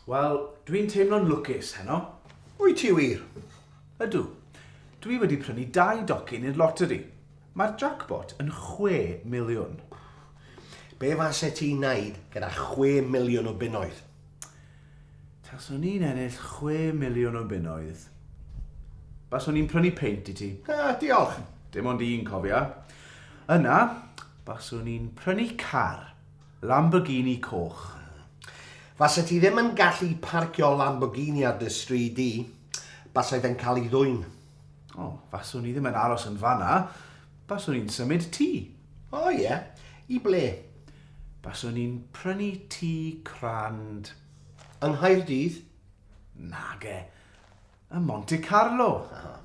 Wel, dwi'n teimlo'n lwcus heno. Wyt ti wir? Ydw. Dwi wedi prynu dau docyn i'r loteri. Mae'r jackpot yn 6 miliwn. Be fase ti'n neud gyda 6 miliwn o bunnoedd? Taswn i'n ennill chwe miliwn o bunnoedd, baswn i'n prynu peint i ti. Ah, diolch. Dim ond un, cofia. Yna, baswn i'n prynu car. Lamborghini coch. Fase ti ddim yn gallu parcio Lamborghini ar dy stryd di. Basai fe'n cael ei ddwyn. O, faswn i ddim yn aros yn fanna. Baswn i'n symud ti. O, ie. I ble? Baswn i'n prynu tŷ crand. Yng Nghaerdydd? Nage. Ym Monte Carlo. Aha.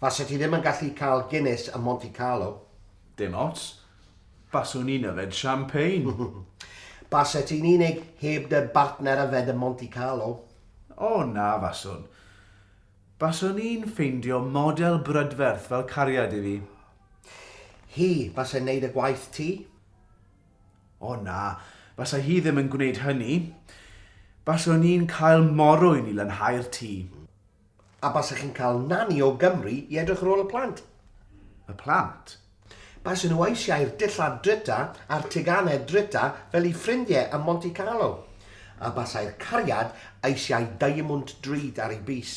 Fase ti ddim yn gallu cael Guinness ym Monte Carlo. Dim ots. Baswn i'n yfed champagne. Base ti'n unig heb dy bartner yfed ym Monte Carlo. O, na faswn. Baswn i'n ffeindio model brydferth fel cariad i fi. Hi fasai'n neud y gwaith ti? O na, fasai hi ddim yn gwneud hynny. Baswn i'n cael morwyn i lanhau'r tŷ. A basech chi'n cael nani o Gymru i edrych ar ôl y plant? Y plant? Baswn nhw eisiau'r dillad drita a'r teganau drita fel i ffrindiau ym Monte Carlo. A basai'r cariad eisiau diamwnt drud ar ei bys.